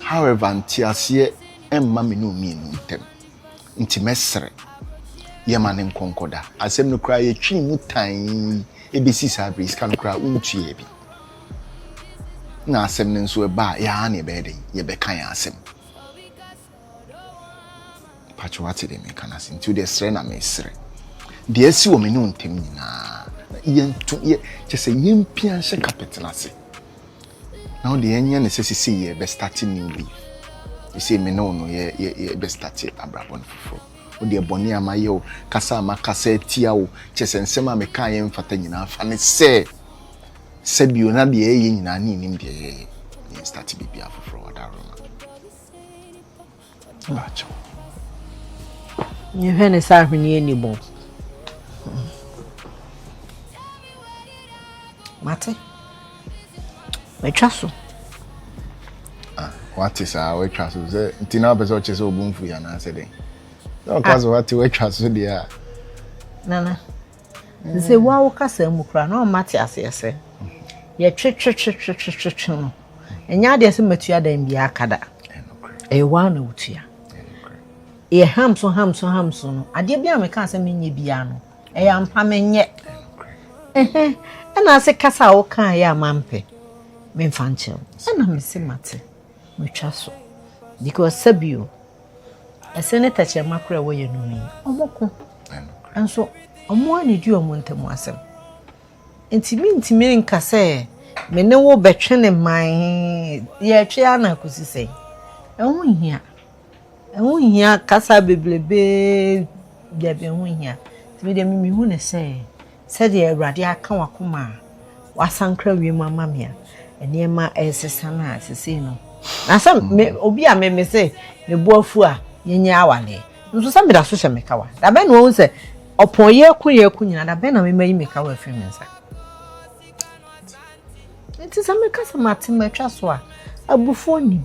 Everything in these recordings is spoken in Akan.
However, nteaseɛ mma me ne omienu ntam, nti mɛsrɛ yɛ ma ne nkɔnkɔda. Asɛm no koraa yɛtwee mu tann bɛsi saa berɛ yi, sika no koraa wontuaa bi. Na asɛm no nso ɛba a, yɛa na yɛbɛyɛ dɛn? Yɛbɛka yɛn asɛm. mpakyɛ wate deɛ meka no ase nti wodeɛ serɛ na mesrɛ deɛ asi wɔ me ne wo ntam nyinaa yɛnto yɛ kyɛ sɛ yɛmpia nhyɛ kapɛt no ase na wodeɛ yɛnyɛ ne sɛ sesei yɛ bɛstate new leaf sesei me ne wo no yɛbɛstate abrabɔ no foforɔ wodeɛ bɔne a mayɛ wo kasa a makasa atia wo kyɛ sɛ nsɛm a mekaa yɛ mfata nyinaa fa ne sɛ sɛbio na deɛ ɛyɛ nyinaa ne nim deɛ yɛyɛ yɛnstate biribia foforɔ wadaroma Yɛhwɛ ne sɛ ahweneɛ nni mu. Mate. Matwa so. Ah, wate saa watwa so sɛ nti na wopɛ sɛ ɔkyɛ sɛ ɔbu mfui anaasɛ dɛn? Sɛ ɔka ah. so wate watwa so deɛ a. Nana. Sɛ wo ara wo kasa mu koraa no na ɔmma te aseɛ sɛ, yɛtwetwetwetwetwe no, ɛnyɛ adeɛ sɛ matua dan biara aka da. Ɛyɛ wo ara na wotua. Yɛ ham so ham so ham so no, adeɛ biara a mekaa sɛ menyɛ biara no, ɛyɛ ampa menyɛ. Ɛna ase kasa a wokaa yɛ a mampɛ, memfa nkyɛ wo. Ɛna mese mate, matwa so. Because sɛbio, ɛsɛ ne tɛkyerɛma kora ɛwɔ yɛn nom yi wɔko nso wɔn a ne di wɔn ntam asɛm nti mentumi nka sɛ me ne wo bɛtwe ne man yɛtwe ana akosi sɛn ɛho nhia ɛho nhia kasa bebrebe dabi ɛho nhia nti medeɛ memehu ne sɛ Sɛdeɛ Awurade aka w'akoma a woasankra wiem ama me a, nneɛma resesa no a, sesei no, na sɛ me, mm. obi a me me se me bo afu a yɛnyɛ awale nso sɛ meda so hyɛ me kawa, da bɛn na wahu sɛ ɔpɔn yɛ ko yɛ ko nyinaa, da bɛn na mema yi me kawa afiri me nsa. Nti sɛ meka sɛ mate matwa so a, abufoɔ nim.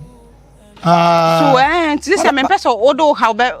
Ah. So, eh, nti sɛ mempɛ sɛ wode wo haw bɛ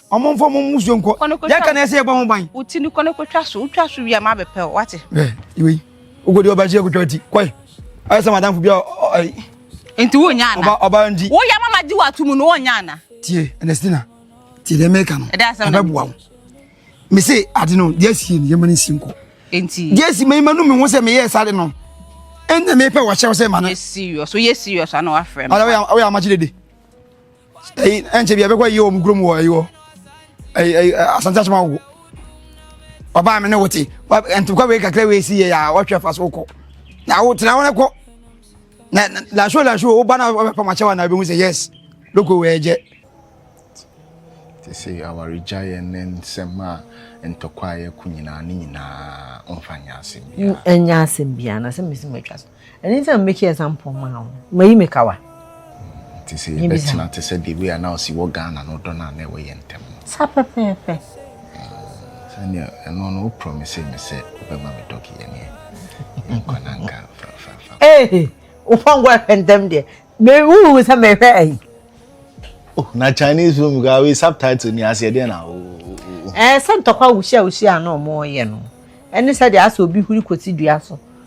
Ɔmo nfa ɔmo musuo nkɔ. Yɛ ka na ɛsɛ yɛ bɔ ho ban. O ti ni kɔ ne ko twa so. O twa so wi a ma bɛ pɛ o wate. Ɛ iwe yi. O ko di ɔba si yɛ ko twa ti. Kɔɛ. Ayɛ sɛ madam fo bi a ɔyi. Nti wo nya ana. Ɔba ɔba nti. Wo yɛ mama di wa tumu no o nya ana. Tie Ernestina. Tie dɛ mɛka no. Ɛdɛ asɛm na. Ɛbɛ boa wo. Me se ade no deɛ si yɛ ma ne si nkɔ. Nti. Deɛ si ma yi ma no me ho sɛ me yɛ sade no. Ɛnna me pɛ wɔ hyɛ wo sɛ ma no. Yɛ serious. Yɛ serious ana wafrɛ me. Ɔyɛ ɔyɛ amakye dede. ɛyi ɛnkyɛ bi a bɛkɔ yie wɔ mu kurom wɔ ɛyi wɔ ɛyi ɛyi asante asoma wo ɔbaa mi ne wo te ntokwa wei kakra wei si yɛ a wɔhwɛ fa so kɔ na wo tena wɔn kɔ na laso laso wo ba na ɔbɛpa ma kyɛw na ebi mu sɛ yes loko wei ɛgyɛ. te sɛ awaregyaeɛ ne nsɛm a ntɔkwa a yɛko nyinaa ne nyinaa ɔmfa nyɛ asɛm biara ɛnyɛ asɛm biara na sɛ mesi matwa so ɛno nti na mebɛki example maa wo mayi me kawa nti sɛ yɛbɛtena te sɛ the way a na ɔsi wɔ ghana no dɔ no a na ɛwɔ yɛ ntɛm no sa pɛpɛɛpɛ sɛnea ɛno no wo promise me sɛ wobɛma me dɔge yɛneɛ yɛnkɔ no anka fafafa wopɔnkɔ ɛhwɛ ntɛm deɛ wohu sɛ mehwɛ ayi oh, na chinese film gaa wei subtitle ni aseɛ deɛ na wo ɛɛ sɛ ntɔkwa wuhyia wuhyia a na ɔmo yɛ no ɛne sɛ deɛ asɛ obi huri kɔsi dua so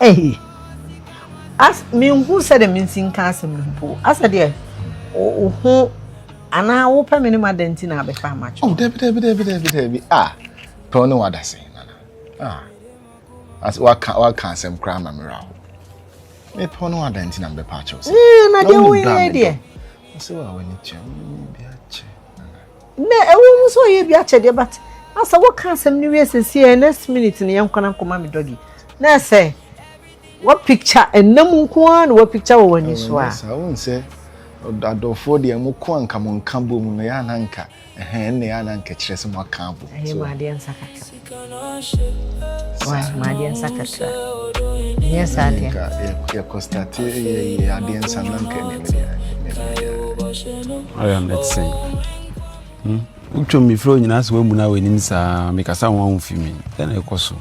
Ei! As menhu sɛdeɛ mensi nka asɛm no mpo. Asɛ deɛ wo ho anaa wopɛ me ne ma dɛn nti na abɛfa amatwo? Oh, dabi dabi dabi dabi dabi. Ah, pɛw ne wada se nana. Ah, as waka waka asɛm koraa ma mera ho. Me pɛw ne wada nti na mbɛpa akyɛw se. Eh, na deɛ wo yɛ deɛ. Ɔsɛ wa wani kyɛ, wo ni bi akyɛ. Nnɛ, ɛwɔ mu sɛ ɔyɛ bi akyɛdeɛ but na sɛ woka asɛm no wie sesie a next minute no yɛnkɔ na nkɔma me doggy na ɛsɛ wɔ picture ɛnna mu nko ara na wɔ picture wɔ w'ani so a. Saa wohu sɛ adɔfoɔ deɛ mo ko anka mo nka bom no yɛ ananka ɛhɛn na yɛ ananka kyerɛ sɛ mo aka abom. Ɛyɛ mu adeɛ nsa kakra. Why? Madeɛ nsa kakra. Nyɛ saa deɛ. Nka yɛkɔ starte yɛ yɛ adeɛ nsa na nka ɛmɛ mi deɛ. Ɔyɛ mɛtsen. Wotwa mi firi onyinaa sɛ wamu na w'anim saa mekasa wɔn ahun fi mi dɛn na ɛkɔ so.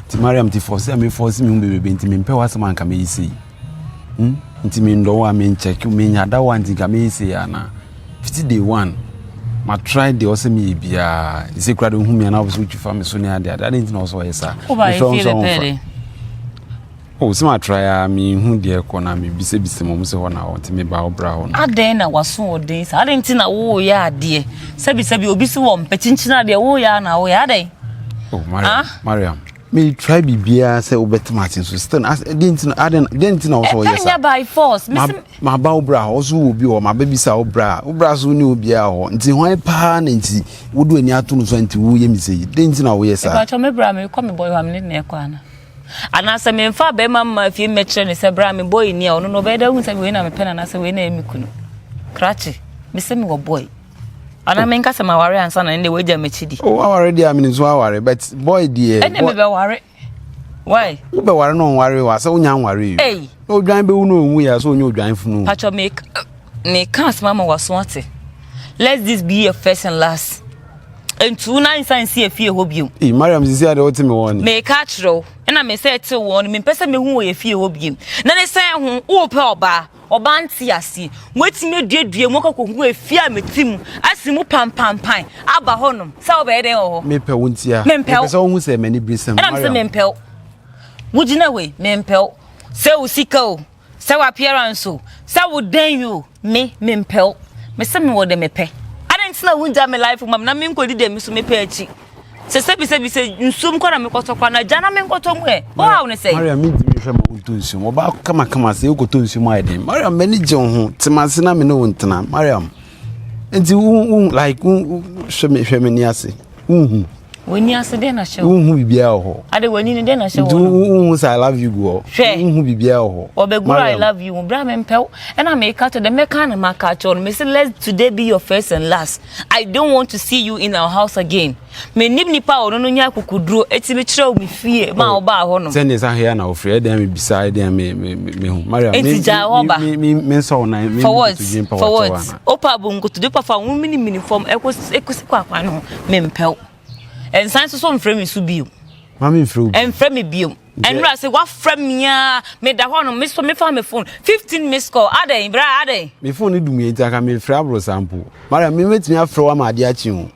Ti Mariam ti fɔsi a mi fɔsi mi ho bebrebe nti mi mpɛ w'asɛm anka mi yi sei. hmm nti me ndɔ wo a me nkyɛke me nya da wo a nti nka me yɛ sei anaa fiti day one ma try deɛ ɔsɛ me yɛ biara ɛsɛ kura de hu me anaa ɔfɛ so wotwi fa me so ne adeɛ adeɛ adeɛ nti na ɔsɛ ɔyɛ saa mefrɛ wo nso ɔmfa o sɛ ma try a me hu deɛ kɔ na me bisa bisa mo sɛ hɔ na ɔte me ba ɔbra hɔ no adɛn na waso ɔden saa adɛn nti na wo yɛ adeɛ sɛbi sɛbi obi si wɔ mpɛkyinkyina adeɛ wo yɛ na wo yɛ adɛn oh mariam ah? mariam Me try bibia sɛ wobɛte mate nso still as den ti aden den ti na wo so yɛ sa. by force. Ma ma ba obra ho so wo bi ho ma ba bi sa obra. Obra so ni obi a ho. Nti ho pa na nti wo do ani ato no so nti wo yɛ mi sei. Den ti na wo yɛ sa. Ba cho me bra me kɔ me boy ho me ne na kɔ ana. Ana sɛ me mfa ba ma ma fie me kyerɛ ne sɛ bra me boy ni a ɔno no bɛda hu sɛ we na me pɛ na na sɛ we na me kunu. Krache. Me sɛ me wɔ boy. Ana me nka sɛ ma ware ansa na ne de wagya m'akyi di. O aware deɛ amene nso aware but boy deɛ. Ɛne me bɛ ware. Why? Wo bɛ ware na ɔnware wa sɛ wonya nware yi. Ei. Na odwan bɛwu na ɔnwu yɛ sɛ ɔnyɛ odwan funu. Patro me me ka asɛm ama waso ate. Let this be your first and last. Ntu na nsa nsi afie hɔ biom. Ee Mariam sisi ade wote me wɔn. Me ka kyerɛw. Ɛna me sɛ te wɔn me mpɛ sɛ mehu wɔ yɛ fie hɔ biom. Na ne sɛ ho wo pɛ ɔbaa. Ɔbaa nte aseɛ. Moatumi aduadua mu akɔ akɔgu efie a mete mu asi mu pampampan aba hɔnom sɛ wobɛyɛ dɛn wɔ hɔ? Mepɛ wo ntia. Mempɛ wo. Mepɛ sɛ wohu sɛ m'ani bere sɛm. Ɛna me sɛ mempɛ wo. Wogyina hɔ yi, mempɛ wo. Sɛ wo sika o, sɛ wo appearance o, sɛ wo dɛn yi o, me, mempɛ wo. Me sɛ mewɔ deɛ mepɛ. Adɛn nti na wongya me life mu ma me na menkɔdi deɛ me nso mepɛ akyi? sɛ sɛbisɛbi sɛ nsuom kɔ na mekɔtɔ kora no agya na menkɔtɔ mu ɛ wohaw ne sɛ maria mentumi hwɛ ma wontɔ nsuom wɔba kamakama sɛ wokɔtɔ nsuom ayɛ den mariam m'ani gye wo ho te mase na me ne wo ntena mariam nti wohu like hwɛ me hwɛ m'ani ase wohu w'ani ase dɛn na hyɛ wo wohu biribiara wɔ hɔ ade w'ani no dɛn na hyɛ wo no wohu sɛ i love you gu hɔ hwɛ wohu biribiara wɔ hɔ wɔbɛguru i love you mu berɛ a mempɛw ɛna meka to dɛ mɛka na maka kyɛw no mese let today be your first and last I don't want to see you in our house again. Me nim nipa a ɔno no nya akukuduro eti me kyerɛ wo me fie ma oh, ɔbaa hɔ nom. Sɛ ne nsa hea na ofiri ɛdɛn e mi bisa ɛdɛn e mi mi mi mi hu. Maria mi mi mi mi mi nsɔ wɔn nan mi nkutudwe mpɛ wɔ kyɛ wɔn. Opa abo nkutudwe pa fa wɔn mini mini fam ɛkɔ e ɛkɔ e si kɔ akwan no me mpɛw. Nsan soso nfrɛ mi so bio. Maame nfrɛ wo bio. Nfrɛ mi bio. Ɛnura sɛ wafrɛ me aa meda hɔ nom me so mefa me phone fifteen missed call adɛn bra adɛn. Me phone no dumie nti anka menfrɛ aboro saa mpo. Mariam me mɛtumi afrɛ wo ama adeɛ akye o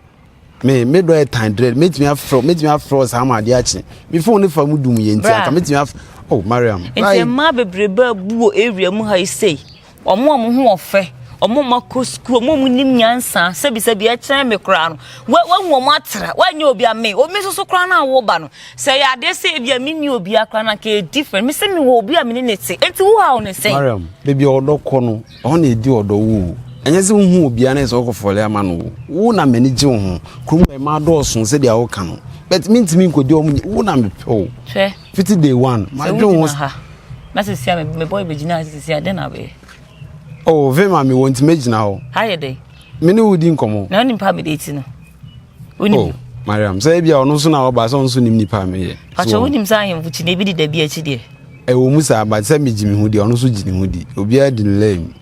me me dɔ yɛ tan dread mɛtumi afrɛ mɛtumi afrɛ wo saa ama adeɛ akye me phone no fa mu dumie nti anka mɛtumi afrɛ oh Mariam. Nti mmaa bebrebe abu wɔ area mu ha yi sei Wɔn a wɔn ho wɔ fɛ, wɔn a wɔakɔ sukuu, wɔn a wɔnim nyansa, sɛbisɛbi ɛkyɛn me koraa no, wɔahu wɔn atra, wɔanyɛ obi a me, omi soso koraa no a wɔba no, sɛ yɛ adeɛ sɛ ebi a menni obi akora no anka yɛ different, me sɛ me wɔ obi a me ne ne te, enti wo haw ne sɛn? Mariam, baabi a ɔdɔ kɔ no, ɛhɔ na ɛdi ɔdɔ wo o. Ɛnyɛ sɛ wohu obiara na ɛsɛ ɔkɔ fɔle ama no o. Wo na m'ani gye wo ho. Kurom hɔ ɛmaa dɔɔso sɛdeɛ woka no. But mentumi nkɔdi wɔn, wo na mepɛ o. Hwɛ. Fiti day one, ma dwen wo. Sɛ ha, na sisi a me boy be gyina ha sisi a den na be. Oh, vim a me wɔ nti me gyina hɔ. Ha yɛ dɛ. Me ne wo di nkɔmɔ. Na onim pa me de ti no. Onim. Oh, Mariam, sɛ ebi a ɔno so na ɔba sɛ ɔno so nim nipa me yɛ. Pacho wonim sɛ ahemfo kyi na ebi di da bi akyi deɛ. Ɛwɔ mu saa, but sɛ me gyi me ho di, ɔno so gyi ne ho di. Obiara di ne lane.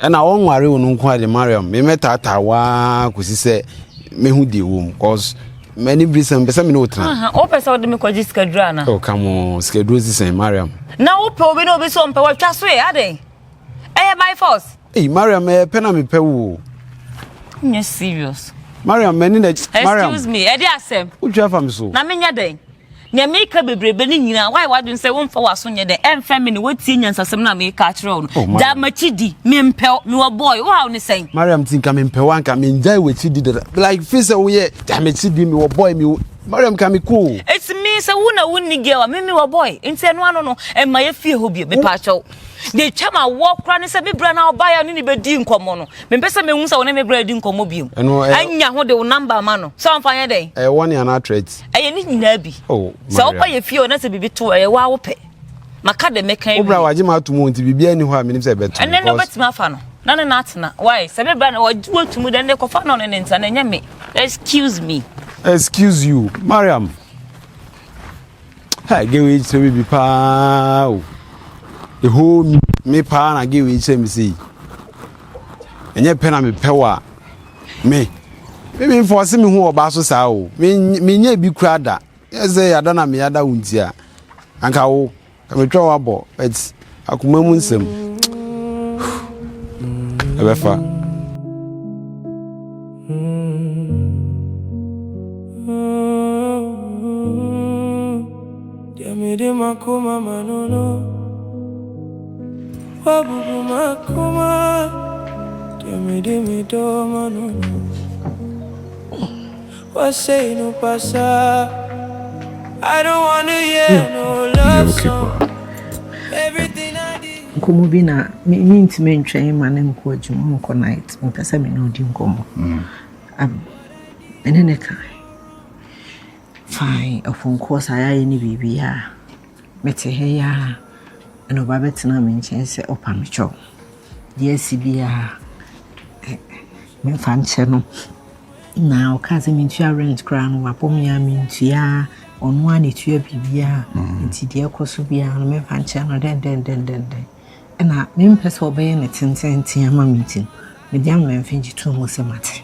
Ɛna ɔnware wo no nko ade Mariam me mɛtaataa waa kɔsi sɛ mehu deɛ wɔ mu cause mani bere sɛ mpɛ sɛ me ne wo tena wopɛ sɛ wode me kɔgye sikaduro ana oh, come on sikaduro si sɛn Mariam na wopɛ obi na obi sɛ ɔmpɛ watwa so ɛ adɛn ɛyɛ by force ei Mariam ɛyɛ pɛ na mepɛ wo nyɛ serious Mariam mani na Mariam excuse me ɛde asɛm wotwa fa me so na menyɛ dɛn Nea meka bebrebe no nyinaa, woayɛ w'adwene sɛ womfa w'aso nyɛ dɛn? Ɛmfa me ne woatie nyansasɛm no a mereka akyerɛ wo no. Oh, Gyae Mariam. m'akyidi, mempɛ wo, mewɔ boy, wo haw ne sɛn? Mariam, nti nka mempɛ wo a, nka mengyae w'akyidi dada. Like, feel sɛ woyɛ, Gyae m'akyidi, mewɔ boy, me wo. Mariam, nka mekɔ o. It's me, sɛ wo na wonni girl a, me mewɔ boy, nti ɛno ano no, mma yɛ fie hɔ bio, mepaakyɛw. Deɛ ɛtwa m'awoɔ koraa ne sɛ me bra no a wobaeɛ a wo ne no bɛdii nkɔmmɔ no, mempɛ sɛ mehu sɛ wo ne me bra redi nkɔmmɔ bio. Ɛno ɛyɛ. Anya ho de wo number ma no, sɛ ɔmfa nyɛ dɛn? Ɛyɛ warning anaa threat? ɛyɛ ne nyinaa bi oh, sɛ woba yɛ fie o na sɛ biribi to ɛyɛ wo a wopɛ maka de meka wie wobra wagye ma atom nti biribi ani hɔ a menim sɛ ɛbɛto ɛnɛ ne wobɛtumi afa no na ne no atena wae sɛ mebra na wagye watum dɛ ne kɔfa no ne ne nsa na ɛnyɛ me excuse me excuse you mariam ha gewe kyerɛ me bi paa o ɛhɔ mi me paa na gewe kyerɛ me sei ɛnyɛ pɛ na mepɛ wɔ a Me, me menfɔɔse me ho wɔ ɔbaa so saa o. Me, menyɛɛ bi koraa da. Yɛ sɛ yɛada na meyɛada wo nti a, anka wo, ka metwa wo abɔ, but akoma mu nsɛm. Ɛbɛfa. Deɛ mede m'akoma ma no no. Wabubu m'akoma deɛ mede me dɔ ma no no Wasɛe no pasaa I don't wanna hear no love song Everything I did Nkɔmmɔ bi na me mentumi ntwɛn mma no nkɔ adwuma nkɔ night mepɛ sɛ me ne ɔdi nkɔmmɔ me ne ne ka fine ɔpɔnkɔɔ saa yɛayɛ ne biribiara Mete ha yi ara na ɔba bɛtenaa me nkyɛn sɛ ɔpa me kyɛw. Deɛ asi biara, memfa nkyɛ no. Na ɔkaa sɛ mentua rent koraa no, wabɔ me a mentua. Ɔno ara na ɛtua biribiara. Nti deɛ ɛkɔ so biara no, memfa nkyɛ no dɛndɛndɛndɛndɛn. Ɛna mempɛ sɛ ɔbɛyɛ no tententen ama me nti no, mede amena mfe gye too mu sɛ mate.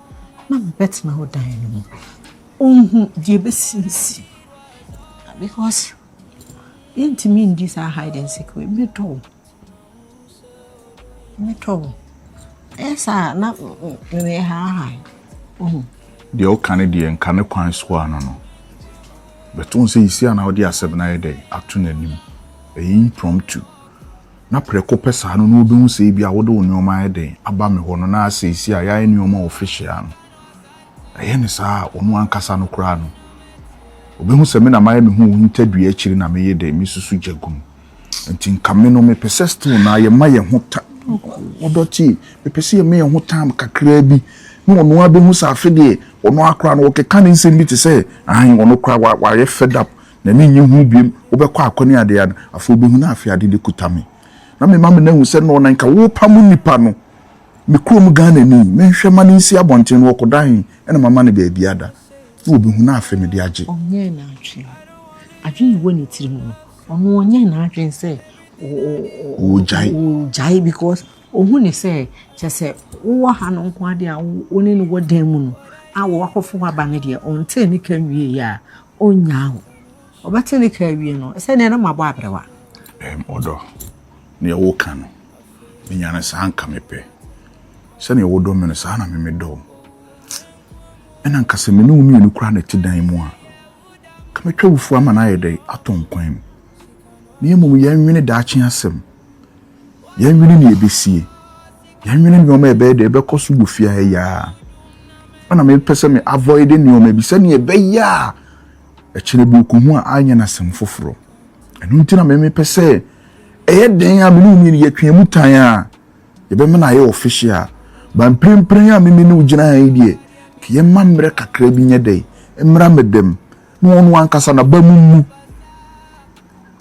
na mebɛtena wo dan no mu. Onhu deɛ ɛbɛsi nsi. Because yɛntumi ndi saa hide and seek wei. Medɔ wo. Medɔ wo. Ɛyɛ saa na meyɛ haahaa. Ohu. Deɛ woka ne deɛ nka ne kwan so a no no. Bɛto sɛ yisi a na wode asɛm no ayɛ dɛn ato n'anim. Ɛyɛ impromptu. na prɛko pɛ saa no na wobehu sɛ ebia wode wo nneɛma ayɛ dɛn aba me hɔ no na seesei a yɛayɛ nneɛma official no, ɛyɛ no saa a, ɔno ankasa no koraa no, obehu sɛ me na mayɛ me ho wɔ hintadua akyiri na meye dɛn, mesusu gya gu mu. Enti nka me no, mepɛ sɛ still no ara yɛma yɛn ho ta, ɔdɔ tie, mepɛ sɛ yɛma yɛn ho time kakraa bi na ɔno ara behu sɛ afe deɛ, ɔno ara koraa no, ɔkeka ne nsɛm bi te sɛ, aane, ɔno koraa wayɛ fed up. na minnye hu bio, wobɛkɔ akɔneade a, afei wubehu na afei ade no kuta me, na mema me nan ahu sɛ nnɔɔ na nka worepamo nnipa no, me kurom Ghana ni, menhwɛ ma no nsi abɔnten no, ɔkɔda he? Ɛna mama no baabi ada, na wobehu na afei mede agye. Ɔnyɛɛ n'adwene. Adwene a ɛwɔ ne tirim no, ɔno ɔnyɛɛ n'adwene sɛ ɔregyae because ohu ne sɛ kyɛ sɛ wowɔ ha no nko ara deɛ a wo ne no wɔ dan mu no a wɔakɔfo waba no deɛ ɔntee ne ka nwieeɛ a Ɔnnyaa wo. Ɔbɛte ne kra awie no, sɛdeɛ na mabɔ aberewa. Ɛm, ɔdɔ, deɛ woka no, menya no saa nka mepɛ. Sɛdeɛ wodɔ me no, saa na me medɔ wo. Ɛna nka sɛ me ne wo mmienu koraa na ɛte dan mu a, nka mɛtwa wufuo ama no ayɛ dɛ atɔ nkwan mu. na mmom yɛnwene daakye asɛm. Yɛnwene nea ebesie. Yɛnwene nneɛma a ɛbɛyɛ dɛ ɛbɛkɔ so wɔ fie ha yi ara. Ɛna mepɛ sɛ me avoid nneɛma bi sɛnea ɛbɛyɛ a ɛkyerɛ bi okohu a anyɛ no asɛm foforo. Ɛno nti na mepɛ sɛ ɛyɛ dɛn a me ne wo mmienu yɛtwea mu tan a yɛbɛma no ayɛ official. Ba mprempren a me ne wo gyina ha yi deɛ, ka yɛmma mmerɛ kakra bi nyɛ dɛn? Mmra me dam. Na ɔno ankasa n'abam mmu.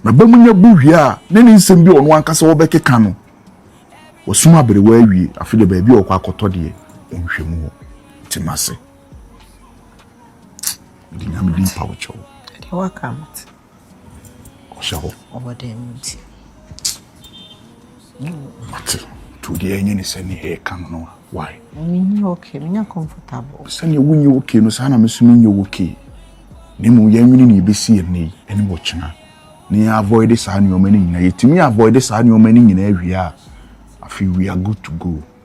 N'abam nya bu wie a, ne ne nsɛm bi a ɔno ankasa ɔbɛkeka no, wasum aberewa awie, afe de baabi a ɔkɔ akɔtɔ deɛ, ɔnhwɛ mu hɔ. Te m'ase. Mede nyame din pa wo kyɛw. Deɛ waka no te. Ɔhyɛ hɔ. Ɔwɔ dɛm nti. Mate. Nti wo deɛ ɛnyɛ ne sɛ ne ɛɛka no no a, why? Menyɛ okay, menyɛ comfortable. Sɛnea wonyɛ okay no saa na me nso menyɛ okay. Na mmom yɛnwene nea ɛbɛsi yɛn nnɛ yi ne wɔkyena na yɛn avoide saa nneɛma no nyinaa. Yɛtumi avoide saa nneɛma no nyinaa wie a, afei we are good to go.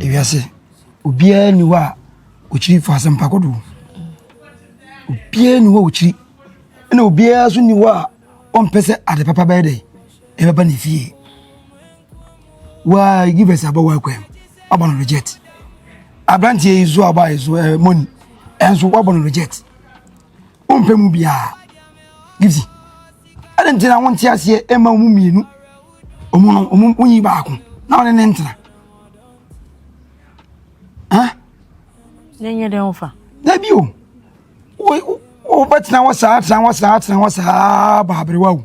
ewiase obiara nni hɔ a ɔkyiri fa asɛmpa kodoɔ obiara nni hɔ a ɔkyiri ɛna obiara nso nni hɔ a ɔmpɛ sɛ ade papa bɛyɛ dɛ ɛbɛba ne fie waa give us abɔ waa kwam wabɔ no reject aberanteɛ yi so aba yi so ɛɛ eh, moni ɛnso wabɔ no reject. Wompɛ mu biara. Gifty, ɛdɛn nti na wonte aseɛ ɛma wɔn mmienu wɔn no wɔn wonyi baako na wɔne ne ntena? Hã? Ne nyɛ dɛn wofa? Dabi o. Wo wo wobɛtena hɔ saa tena hɔ saa tena hɔ saa baaberewa o.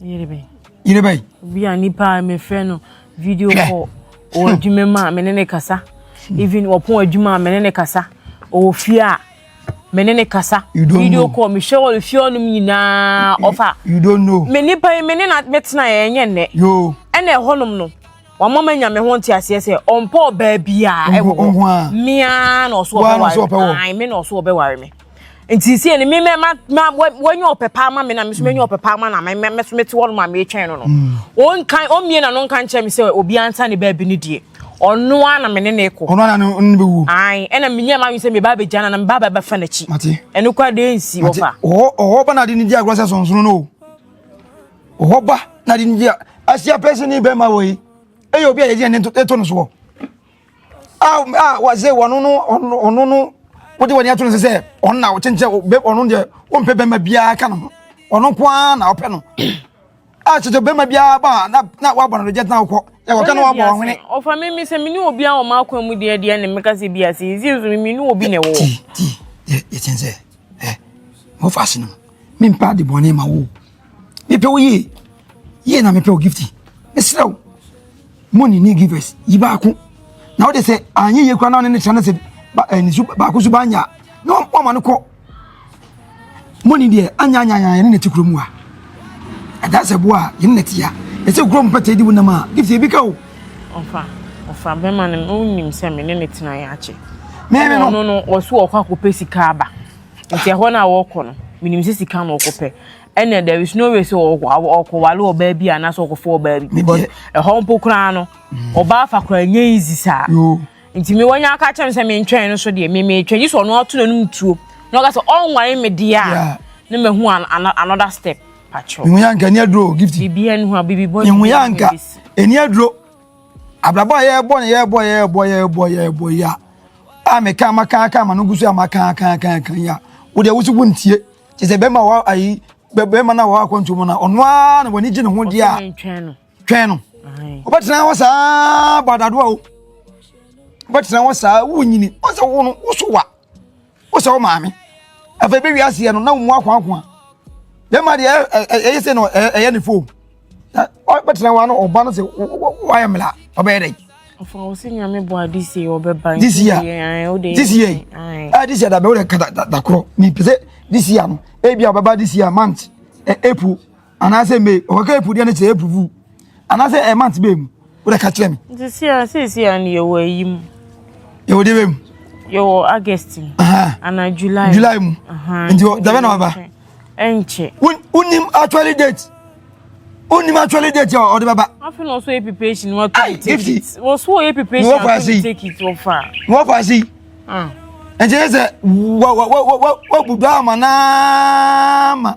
Yere bɛn? Yere bɛn? Obi a nipa a mefrɛ no video call ɔwɔ adwuma mu a mene ne kasa. Hmm. Even ɔpɔn adwuma a mene ne kasa. Ɔwɔ fie a mene ne kasa. Video call mehwɛ wɔ fie ɔnom nyinaa ɔfa. You don't know. Me nipa yi mene na metena yɛ ɛnyɛ nnɛ. Yo. Ɛna ɛhɔnom no wɔn ma nya me ho nte aseɛ sɛ ɔmpɔ ɔbaa biara ɛwɔ hɔ. Mmea na ɔso ɔbɛware me. Mmea na ɔso ɔbɛware me. nti sisi yɛ no mi mɛ ma ma wɔnyɛ ɔpɛ paa ma mi na mi so mɛnyɛ ɔpɛ paa ma na mɛ mɛ so mɛ ti wɔn ma mi twɛn no no wɔn nkan wɔn mie na no nkan kyɛn mi sɛ obi ansa ne baabi ne deɛ ɔno a na mi ne ne kɔ ɔno a na ne bɛ wu ayi ɛna mi nyɛ ma mi sɛ mi ba bɛ gya na na mi ba bɛ bɛ fa n'akyi ɛno kɔ de nsi wɔ fa ɔhɔ ɔhɔ ba na de ne di agorɔ sɛ sɔnsɔn no ɔhɔ ba na de ne di a asia pɛsɛn ne bɛrima wɔ yi ɛyɛ obi a yɛ di yɛ ne to ne soɔ. a a wɔdze wɔn no ɔno no wode wɔn ato no sɛ sɛ ɔno na ɔkyenkyɛn ɔbɛ ɔno deɛ ɔmpɛ bɛrima biara ka ne ho ɔno nko ara na ɔpɛ no a kyerɛ bɛrima biara ba a na na wabɔ no de gyɛtena wokɔ yɛ wɔka na wabɔ wɔn hwene. ɔfa mi mi sɛ mi ni obi a wɔn akwan mu deɛ deɛ ne meka sɛ bi ase yi zi nso mi ni obi na ɛwɔ. ti ti yɛ yɛ kyɛn sɛ ɛ mo fa ase no mi mpa de bɔnne ma wo. mepɛ wo yie yie na mepɛ wo gifti mesrɛ wo mo ne ne givers yi baako na wode sɛ anyɛ yie kora na ɔne ne tra no sɛ eh, ne su baako so baanya a na wama no kɔ mo ne deɛ anyanyanya yɛne ne te kurom a ɛda sɛ boa a yɛne ne te a ɛsɛ kurom pɛtɛ di wo nam a gifti ebi ka o ɔfa ɔfa bɛma no wonim sɛ me ne ne tena yɛ akye mɛmɛ no ɔno no ɔso ɔkɔ akɔpɛ sika aba Nti ɛhɔ no a wɔkɔ no menim sɛ sika na wɔkɔpɛ ɛnna there is no way sɛ ɔkɔwale ɔbaa bi anaasɛ ɔkɔfa ɔbaa bi because ɛhɔ mpo koraa no mm. ɔbaa fa koraa nyɛ easy saa nti me wɔnyɛ aka kyɛm sɛ mentwɛn no so deɛ memetwɛn gye sɛ ɔno ato n'anom tuo na ɔka sɛ ɔnware me deɛ a na mahu another step patrɔ mehu yɛ anka ɛni aduro gift biribi ɛni ho a biribi bɔ ɛni aduro Abrabɔ a yɛrebɔ no yɛrebɔ yɛrebɔ yɛrebɔ yɛrebɔ yi a a meka maka aka ma no gu so a maka aka aka aka yi a wode wo so wontie kyɛ sɛ bɛrima wɔ ayi bɛrima no a wɔ akwantuo mu no ɔno ara na w'ani gye ne ho deɛ a twɛn no wobɛtena hɔ saa badado a o wobɛtena hɔ saa wonyini ɔsɛ wo no wo so wa wosɛ wo maame afei bɛ wiase yɛ no na wo mu akoakoa bɛma deɛ ɛyɛ sɛ no ɛyɛ ne fo bɛtena wa no ɔba no sɛ woayɛ mmela ɔbɛyɛ dɛn this year this year this year ah, this year dabe wode ka dakorɔ mepɛ sɛ this year no ebia ɔbɛba this year month eh, april anaasɛ me ɔkɔka april deɛ no sɛ april vu anaasɛ ɛ eh, month bɛɛ mu wodɛ ka kyerɛ me nti sia seesia no yɛwɔ ayi mu yɛwɔ deɛ bɛ mu yɛwɔ august mu anaa july july mu nti dabɛ na waba ɛnkyɛ wonim actually date wonim actually date a ɔde bɛba afei na ɔso yɛ preparation wato ticket wɔso yɛ preparation wato ticket wɔfa wɔfa si ɛnkyɛ sɛ wabudu ama naama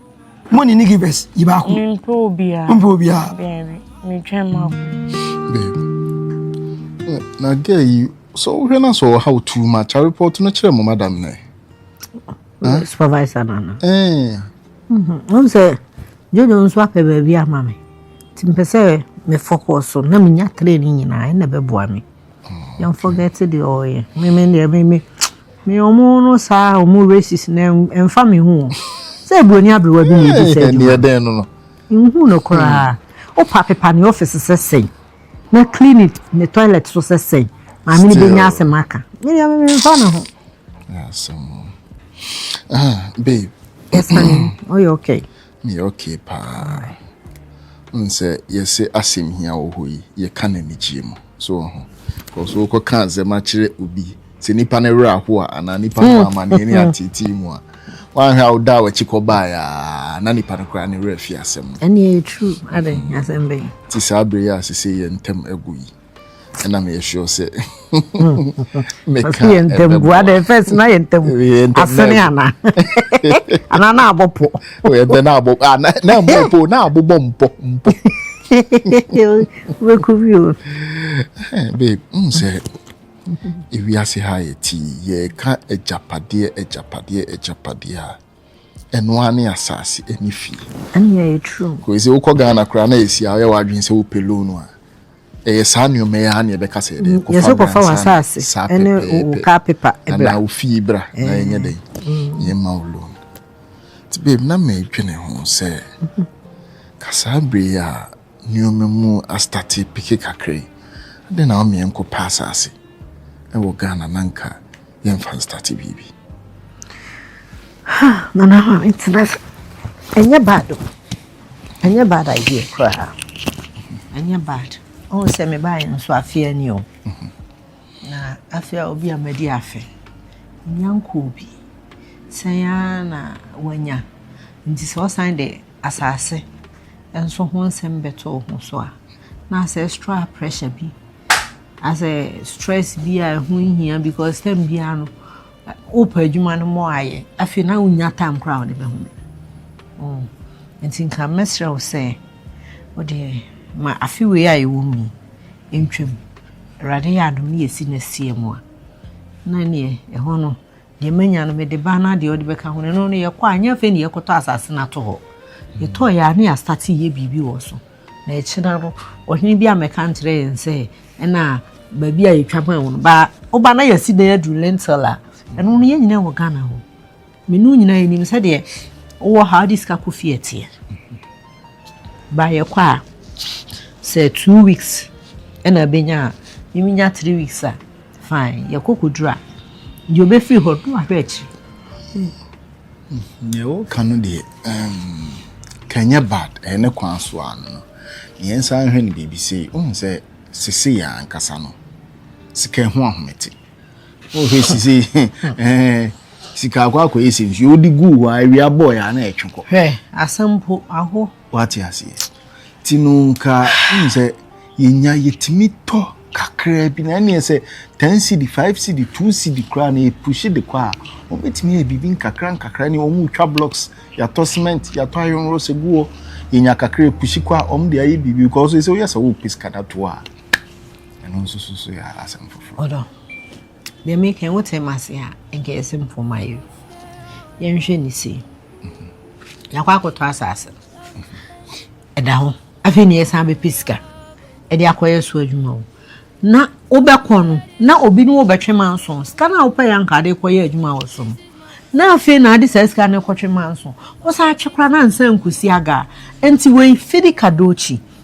Mo ne ne givers yi baako. Mpe obiara. Mpe obiara. Baabi. Metwɛn mu akɔ. Baabi. Na girl yi so wohwɛ na so how too much. A report no kyerɛ mo madam nɛ. Eh? Supervisor no no. Eh. Mhm. Won sɛ Jojo nso apɛ baabi ama me. Timpɛ sɛ me focus so na menya training nyinaa ɛna bɛboa me. Yɛn forget deɛ ɔyɛ meme deɛ meme me ɔmo no saa ɔmo racist na ɛnfa me ho sɛ eburoni aberewa bi na ebi sɛ adwuma ɛdɛn no no nhu no koraa hmm. opa pepa ne office sɛ sɛn na clinic ne toilet so sɛ sɛn maame ne benya asɛm aka me deɛ meme nfa me ho asɛm ah babe ɛsan ɔyɛ okay Meyɛ ok paa. Wohu sɛ yɛse asɛm hia wɔ hɔ yi, yɛka no anigyeɛ mu. So wɔ ho? Because wokɔ ka asɛm akyerɛ obi, sɛ nipa no werɛ aho a, anaa nipa no wɔ amaneɛ ne ateetee mu a, woanhwɛ a woda a wakyi kɔ baeɛ a, na nipa no koraa ne werɛ afi asɛm no. Ɛne ɛyɛ true. Adɛn? Asɛm bɛn? Ti saa berɛ yi a sese yɛn ntam agu yi. ɛna meyɛ sure sɛ meka yɛ ntamboa dɛ first na yɛ ntam asene ana ana na abɔ po yɛ dɛ na abɔ ah, na na mbɔ po na abobɔ mpɔ mpɔ wɛku bi o eh, babe n sɛ ewiase ha yɛ ti yɛka agyapadeɛ agyapadeɛ agyapadeɛ a ɛno ara ne asase ɛne fie. ɛne ɛyɛ true. kò ɛsɛ wokɔ ghana koraa na ɛsi a ɔyɛ w'adwene sɛ wopɛ loan a ɛyɛ saa nneɛma yi ara na ɛbɛka sɛ ɛdɛ mm, yɛsɛ kɔfa w'asase ɛne wo car paper ɛbra anaa wo fie bra na eh. yɛnyɛ dɛn mm. yɛma wo loan nti babe na madwene ho sɛ mhm. kasaa bere a Nneɛma mu astate peke kakra yi, adɛn na wɔma yɛnkɔ pɛ asase wɔ Ghana na nka yɛmfa nstate biribi? Ha, Nana Kwame, tena ase. Ɛnyɛ bad o. Ɛnyɛ bad idea koraa. Ɛnyɛ bad. Ɔhu sɛ mebaeɛ no nso afea ni o. Mhm. Na afea obi a madi afe. Nya nkɔɔ bi. Sɛn ara na wanya. Nti sɛ ɔsan de asase nso ho nsɛm bɛto wo ho so a, na ancestral pressure bi asɛ stress bi a ɛho nhia because time biara no wopɛ adwuma no mmɔ ayɛ afei na wonya time koraa wode bɛho mm. nti nka mɛsrɛ wo sɛ wode ma afe wei a yɛwɔ mu yi ntwam awurade yɛ adom ne yɛsi no asia mu a na neɛ ɛhɔ no Deɛ manya no mede ba na deɛ ɔde bɛka ho no ɛno no yɛkɔ a nyɛ afei na yɛkɔtɔ asase no ato hɔ. Yɛtɔɔ yɛ a ne yɛastate yɛ biribi wɔ so. Na ɛkyena no ɔhene bi amɛka nkyerɛ yɛn sɛ ɛna baabi a yɛtwa maa wɔn ba woba na yɛasi dan aduru lentil a ɛno no yɛn nyinaa wɔ Ghana hɔ. Me ne wo nyinaa yɛnim sɛdeɛ wowɔ ha wode sika kɔ fie ɛteɛ. Ba yɛkɔ a sɛ two weeks ɛna bɛnya a miminya three weeks a Fine, yɛkɔ kɔduru a, deɛ ɔbɛfiri hɔ no wahwɛ akyiri. Deɛ woka no deɛ, ka ɛnyɛ bad, ɛyɛ ne kwan so a no no. Deɛ nsa nhwɛ no biribi sei, wohu sɛ sese yɛ ankasa no, sika ɛho ahomete. Wohwɛ sese, eh, sika akɔ akɔyɛ sɛ nsuo, wode guu hɔ a awia bɔɔyɛ a na ɛtwe kɔ. Hwɛ, asɛm po, aho. Wate aseɛ? Ti no nka wonim sɛ yɛnya yɛtumi tɔ kakraa bi na ɛneɛ sɛ 10 cd 5 cd 2 cd koraa na yɛpuhye de kɔ a wɔbɛtumi yɛ biribi nkakra nkakra ne wɔn twa blocks yɛatɔ cement yɛatɔ iron rods egu hɔ yɛnya kakra puhye kɔ a wɔn de ayɛ biribi kɔ so sɛ woyɛ sɛ wɔpɛ sika da to a ɛno nso so so yɛ asɛm foforɔ. Deɛ meka yi wote m'ase a nka yɛse mpoma yi yɛnhwɛ ne sei yɛakɔ akɔtɔ asase ɛda ho afei ne yɛsan bɛpɛ sika ɛde akɔyɛ so adwuma o na wobɛkɔ no na obi ne wobɛtwe manso sika no a wopɛ yɛ anka de kɔyɛ adwuma wɔ so no na afei na ade saa sika no kɔtwe manso wosan atwe koraa na ansa nkusi aga nti wei fidi kadokyi